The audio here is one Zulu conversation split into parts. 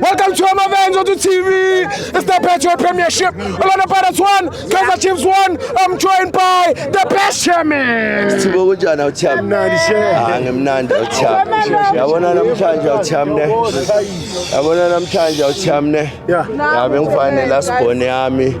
Welcome to our events on the TV. It's the Patriot Premiership. Orlando Pirates won, Kaizer Chiefs won. I'm joined by the best chairman. Sithibo kunjani awuthami? Mnandi shehe. Ah ngimnandi awuthami. Yabona namhlanje awuthami ne. Yabona namhlanje awuthami ne. Yeah. Yabe ngifanele asibhone yami.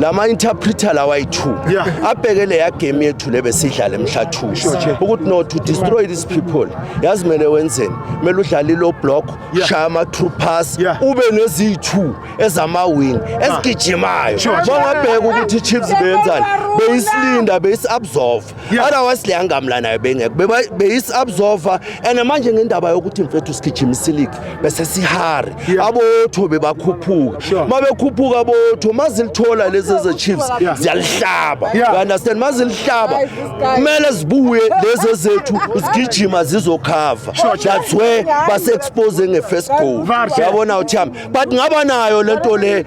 lama interpreter lawa ayi-two yeah. abheke leya game yethu le besidlala emhla two ukuthi no to destroy these people yazi mele wenzeni mele udlale lo block yeah. shaya ama-true pass yeah. ube neziyi-two ezama-wing ah. ezigijimayo bangabheka ukuthi i-chiefs beyenzani beyisilinda beyisi-absorve otherwise le angamla nayo bengekho beyisi-absorva and manje ngendaba yokuthi mfethu sigijimisa iligi bese sihari abotho bebakhuphuka uma bekhuphuka abotho ma zilithola lezi ezechiefs ziyalihlaba understand ma zilihlaba kumele zibuye lezi ezethu zigijima zizokhava that's where base-expose nge-first goal yabona uthi hami but ngaba nayo lento le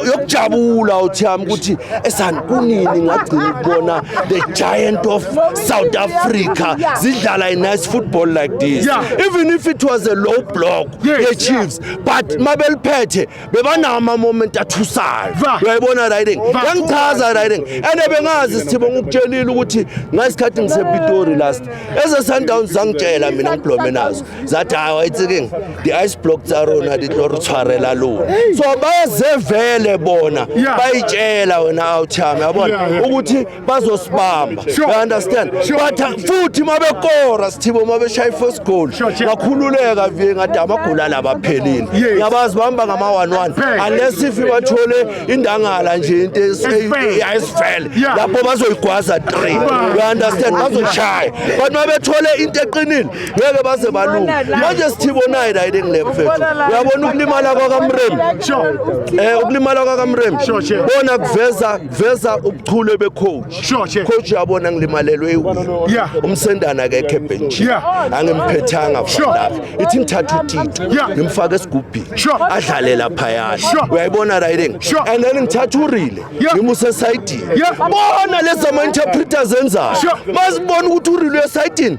yokujabula uthi yami ukuthi esani kunini ngagcina ukubona the giant of South Africa zidlala a nice football like this even if it was a low block ye Chiefs but mabeliphethe bebanawo ama moment athusayo uyayibona riding yangichaza riding and bengazi sithibo ngikutshelile ukuthi ngasikhathi ngisePitori last eze Sundowns zangitshela mina ngiblome nazo zathi hayi wayithiking di-ice block tsa rona di tlo re tshwarela lona so bayazevele bona bayitshela wena awuchame yabona ukuthi bazosibamba you understand but uh, futhi uma bekora sithibo uma beshaya i-first goal ngakhululeka vie ngathi amagula la baphelile ngiyabazi bahamba ngama-one-one unless if bathole indangala nje into eyayisifele lapho bazoyigwaza three you understand bazoyishaya but uma bethole into eqinile ngeke baze balunge manje sithibonayo la yini engile mfethu uyabona ukulimala kwakamrem eh ukulimala kwakamrem bona kuveza kuveza ubuchule becoach coach uyabona ngilimalelwe umsendana akekho ebench angimphethanga fana ithi ngithatha utito ngimfaka esigubhini adlale lapha yana uyayibona la yini and then ngithatha urile ngimuse esayidini bona lezi ama interpreters enzayo bazibona ukuthi urile esayidini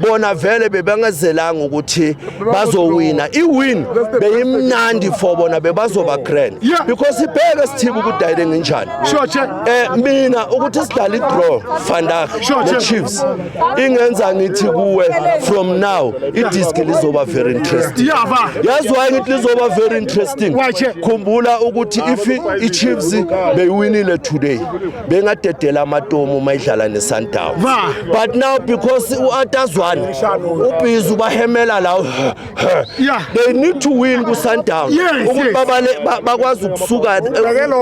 bona vele bebangazelanga ukuthi bazowina iwin beyimnandi for bona bebazoba grand because ibheke sithibe ukudayile nginjani eh mina ukuthi sidala idraw vandag nechiefs ingenza ngithi kuwe from now idiski lizoba very interesting yazi waye ngithi lizoba very interesting khumbula ukuthi if ichiefs beyiwinile today bengadedela amatomu uma idlala nesundown but now because u-atazwane ubhizi ubahemela lawo they need to win kusundown ukuthi bakwazi ukusuka eh,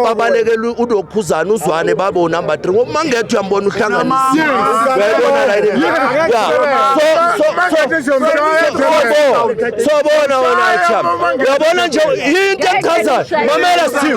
babalekele unokhuzana uzwane babe unumber 3 ngoba uma ngetho uyambona uhlanganisiyabona la sobona wena cham uyabona nje yinto echazayo mamela steve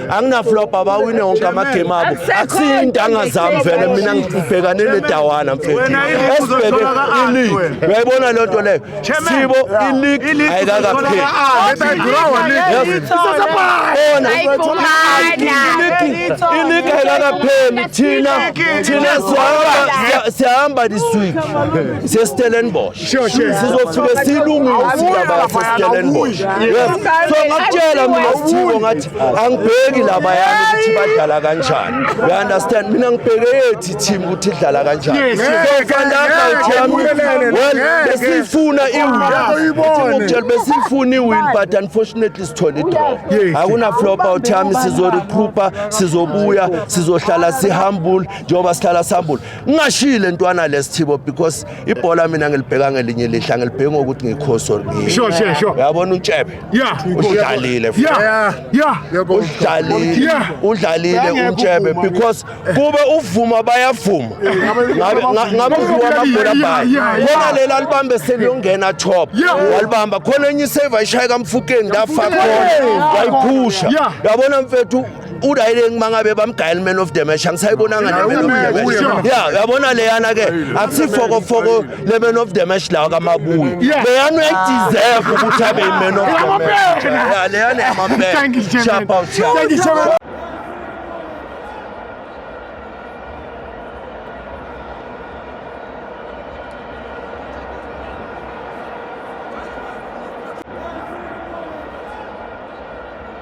anginaflop abawine wonke amagame abo akusiyo into angazami vele mina ngibhekane nedawana mfethu esibheke iligi uyayibona leyo nto leyo sibo iligi ayikakapheli iligi ayikakapheli thina thina sihamba this week siyestellenbosh Sure, sure. sizofike silungise indaba yasestellenbosch yes so ngakutshela mina sithibo ngathi angibheki laba yami ukuthi badlala kanjani you understand mina ngibheke yethi team ukuthi idlala kanjani Yes, yes. so fandaka uthi yami Ngeke, well ngeke. besiyifuna Ngeke iwin uyibone. ngokutshela besiyifuna iwin but unfortunately sithole idraw Yes. akuna flop out yami sizorecrupa sizobuya sizohlala sihambule njengoba sihlala sihambule ngingashile ntwana lesithibo because ibhola mina ngilibheka ngelinye lihla ngilibheka ngokuthi ngikhosi or ngiyini. Sure, sure, sure. uyabona utshebe Yeah. udlalile futhi. Yeah. Yeah. udlalile Yeah. udlalile Ngeke utshebe uvuma. because kube uvuma bayavuma ngabe nga- ngabe uvuka amabhola Yeah, bayo yeah, yeah. khona lela libambe seliyongena top Yeah. walibamba khona enye isave ayishaya kamfukeni ndafa khona wayiphusha Yeah. yabona mfethu urayileng uma ngabe bamgayela iman of the match angisayibonanga neman of the match ya uyabona leyana ke akusifokofoko leman of the match lawa kamabuyi leyana uyayideserve ukuthi abe iman of the match ya leyana yamampela shapa uthia